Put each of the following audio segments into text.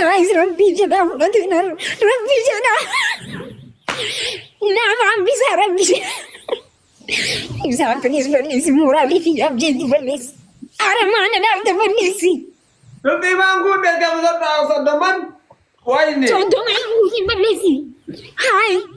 Guys, Rabbi jedha fudhatu hin argu. Rabbi jedha. Nama hambisa Rabbi jedha. Ibsaan kunis balleessi mooraalii fi abjeetti balleessi. Aramaana dhaabda balleessi. Rabbi maan kun beekamu saddaa saddaman waayne. Soddoma hin balleessi. Haay.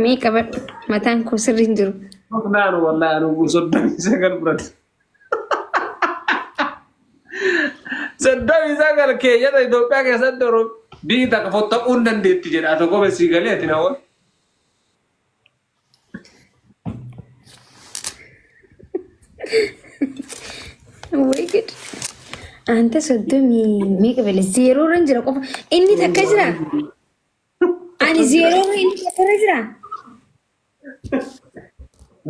Mee qabadhu mataan koo sirri hin jiru. Naan wallahi anuu soddomii sagal biratti. Soddomii sagal keeyyata Itoophiyaa keessatti yeroo biyyi takka fottaquu hin dandeetti jedha tokko besii galee ati na oolu. Way good. Anta soddomii meeqa bale zeeroo irra hin jira qofa. Inni takka jira. Ani zeeroo irra inni takka irra jira.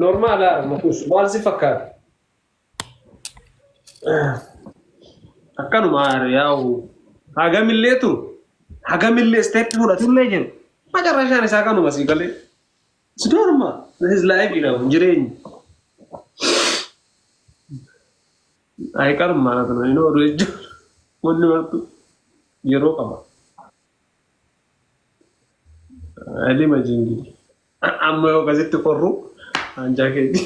Normaala makuus maal si fakkaata? Akkanuma yaa'u hagamillee turu hagamillee isteeppii fudhatullee jiru macarrashaan isaa kanuma sii galee si doorma his laayifi dhabu jireenyi. Ayiqaruma haala kana inni oduu jechuun wanni martu yeroo qaba. Alima jingili. Amma yoo akkasitti qorru hanjaa keeti.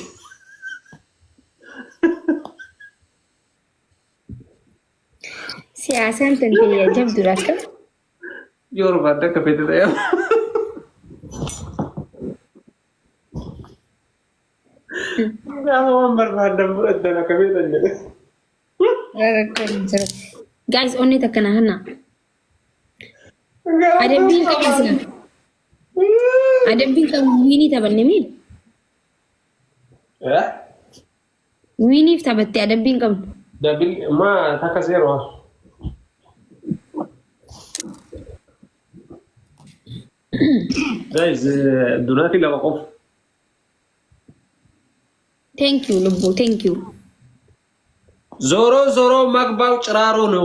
Siyaasaan tan ta'e jabduudha akka. Yoo barbaadde akka feete ta'e. Gaafa waan barbaaddan fudhattan akka feetan jedhe. Gaayis onnee takka na hanna. Adabbiin qabasna. Adabbiin kan wiinii taphanne mii? Eh? Wiiniif taphatte adabbiin qabnu. Dabil ma taka zero. Guys, eh, durati lama qof. Thank you lubbuu, thank you. Zoro zoro magbaw ciraro no.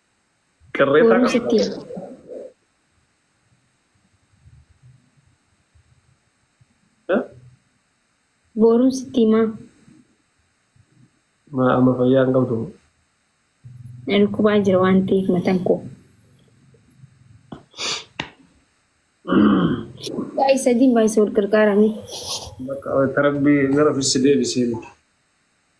Qirreessaa Booruu qabna. sitti Eh? Booruu sitti himaa Maa amma fayyaa hin qabdu. na dhukkubaa jira waan ta'eef matan koo. Baay'ee sadiin baay'ee wal gargaaramee. Bakka tarabbii gara ofis deebisee miti.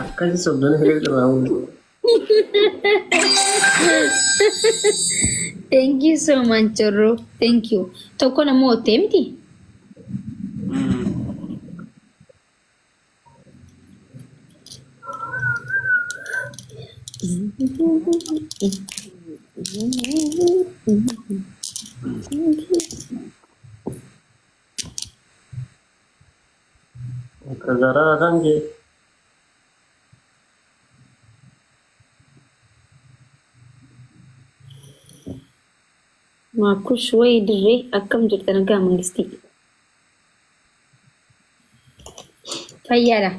Akkasi sobdana hiree irraa mul'atu. Thank you so much, Jorro. Thank you. Tokko nama oottee miti? Garaa kan kee. Maakush wayi dirree akkam jirta nagaa mangistii. Fayyaadha.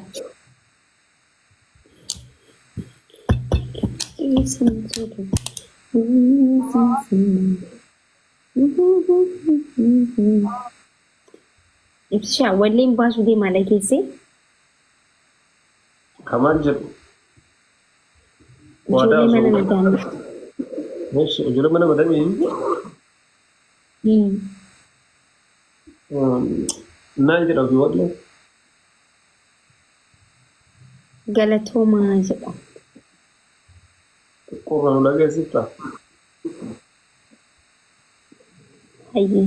Ibsishaa walleen baasuu deemaa dhageessee. Kamaan jedhu. Waadaa Ijoollee mana osoo madaamii. Meesha ijoollee mana madamii Hmm. naan jedha ofii wallee. Galatoomaa jedha. Qurra nu dhageessifta. Hayyee.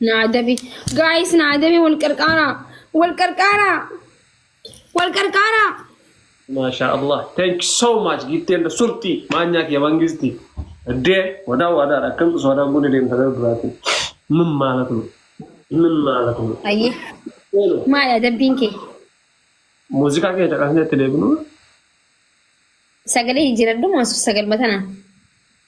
Na adabi. Guys na adabi wal qarqaara. Wal qarqaara. Wal qarqaara. Masha Allah. Thank you so much. Gitti and surti. Maanyaa kiyya mangisti. Dee wadaa wadaa akkam osoo wadaa gune deemta gara duraati. Min maala kun. Min maala kun. Ayyi. Maal adabbiin kee? Muuziqaa kee caqasnee itti deebinu. Sagalee jijjiiradhu maasuuf sagalma tanaan.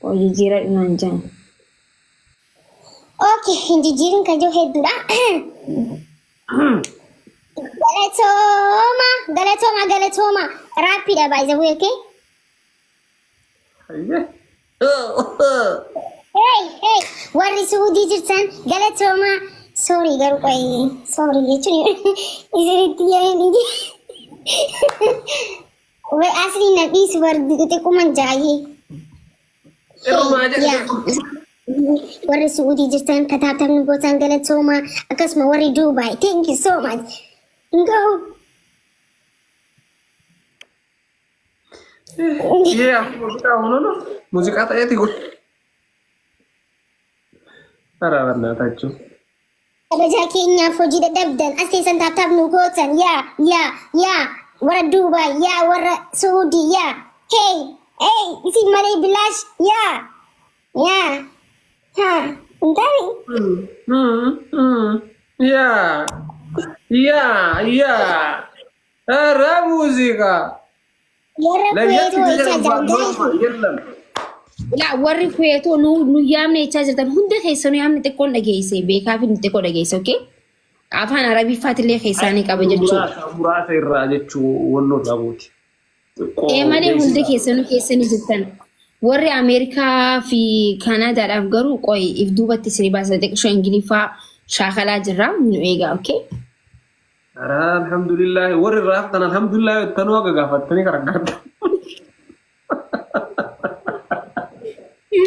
Qoy jijjiiradhu naan jaan. Okay, hin jijjiirin kan jiru hedduudha. Galatooma, galatooma, galatooma. Raappiidha by the way, okay? Ayyee. Hey, hey, warri suudii jirtan galatooma. Sorry garuu qoy, sorry jechuun isinitti yaa'in Wee asli na dhiisu bar xixiquman jaayee. Irrumaa Hey, yaa. jedhe. Warri Su'uudii jirtan kataatafni gootaan galatooma akkasuma warri Duubaay thank you so much. Ngahu Yee amma muuziqaa hununu muuziqaa ta'eeti kun. Araa bannaa taachuu. Kabajaa keenyaaf hojii dadhabdan as teessan taaptaap nu gootan yaa yaa yaa warra Duubaay yaa warra Suudii yaa hey hey isin malee bilaash yaa yaa haa hin taane Yaa yaa yaa Raa muuziqaa. ለየት ብዬ ነው የለም Ilaa warri feetoo nu nu yaamne jechaa jirtan hunda keessanuu yaamni xiqqoon dhageesse beekaa fi xiqqoo dhageesse oke afaan arabiffaatillee keessaanii qaba jechuudha. muraasa muraasa irraa jechuu walloo dhaabuuti. Xiqqoo Ee malee hundi beeksisa. keessanuu keessanii jirtan warri Ameerikaa fi Kaanaadaadhaaf garuu qoy if duubatti isinii baasa xiqqoo ingiliffaa shaakalaa jirra nu eegaa oke. Araa alhamdulillahi warri irraa haftan alhamdulillahi jettanuu haga gaafattanii kan argattan.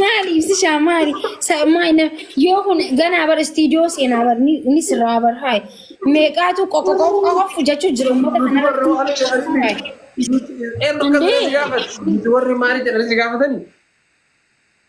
Maali ibsishaa maali? Sa- maali na- Yoo kun ganaa bar istiidiyoo seenaa bar ni ni sirraa bar haay. Meeqaatu qoqqoqqoqqoqqo jechuu jira uummata Nuti warra kanarratti. waan jedhanitti Haay. nuti eenyu akka ta'e si Andee. gaafatu. Nuti warri maali jedhanii si gaafatanii?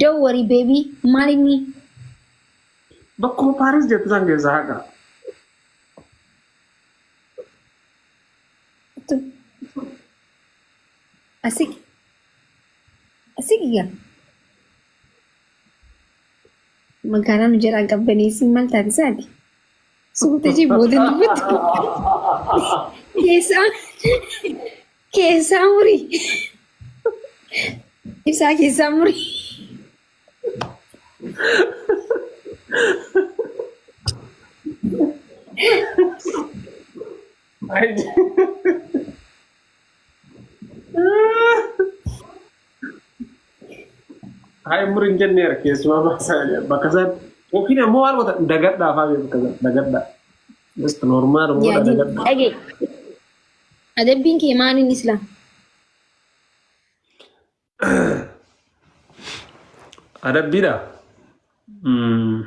Don't worry baby maal inni Bakkuma Paaris jettu san keessa haqa. asik asik yaa magaalaa nu jalaa qabbaneessi maal taate isaati suuta jee booda dubbatti keessaa Keessaa muri. Isaa keessaa muri. Hayi muri hin jenneera keessumaa baasaa- bakka isaan yookiin ammoo waan wata dagadhaa fa'aa beeku bakka isaan dagadhaa. Just normaal Yaadii. dagadhaa. Dhage. Adabbiin kee maaliin islaam? Adabbiidha. Mm.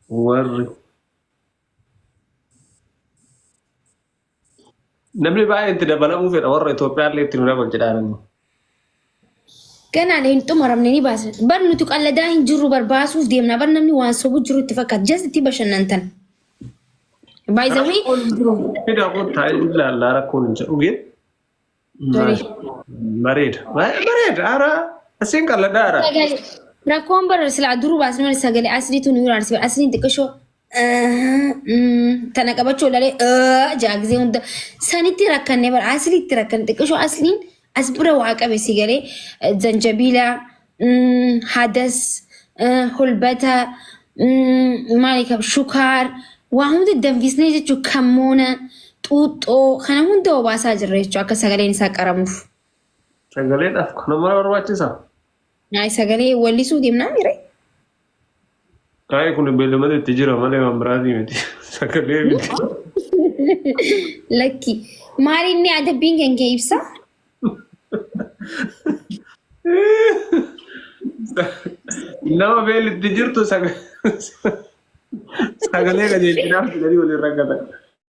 Warri Namni baay'een itti dabalamuu fedha warra Itoophiyaa illee itti nu dabalu jedhaananii. Ganaan hin xumuramne ni baasa. Bar nuti qalladaa hin jirru bar baasuuf deemna. Bar namni waan sobu jiru itti fakkaata. Jas itti bashannantan. By the way, Rakkoon hin jiru. Fidaa kun taa'ee ilaallaa rakkoon hin jiru. Dhugee. Garee. Bareeda. Bareeda. Ara asiin qalladha ara. Sagalee. Rakkoon bara silaa duruu baasni mana sagalee asliitu nu ilaalsi bara asliin xiqqashoo tana qabachuu ilalee jaagisee hunda sanitti rakkanne bara asliitti rakkanne xiqqashoo asliin as bira waa qabe si galee zanjabiilaa mm, hadas eh, hulbata mm, maali qaba shukaar waa hunda danfisnee jechuun kammoona xuuxxoo kana hunda obaasaa jirra jechuudha akka sagaleen isaa qaramuuf. Sagaleen af kana mara barbaachisa. Naay sagalee wallisuu deemnaa mire. Ayi kun beellamada itti jira malee waan biraatii miti. Sagalee miti. Lakki. Maali inni adabbiin kan kee ibsa? Nama beelli itti jirtu saga- sagalee qajeelchinaaf jedhanii waliin rakkatan.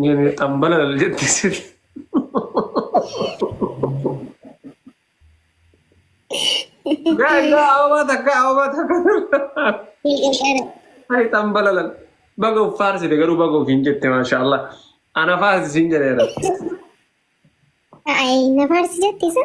Nyene xambala lal jetti sirri. Gaa gaa ababaa takka ababaa takka. Hai xambala lal. Baga of faarsite garuu baga ofiin jette maashaallah. Ana faarsi siin jedheera. Ay, na faarsi jetti isa.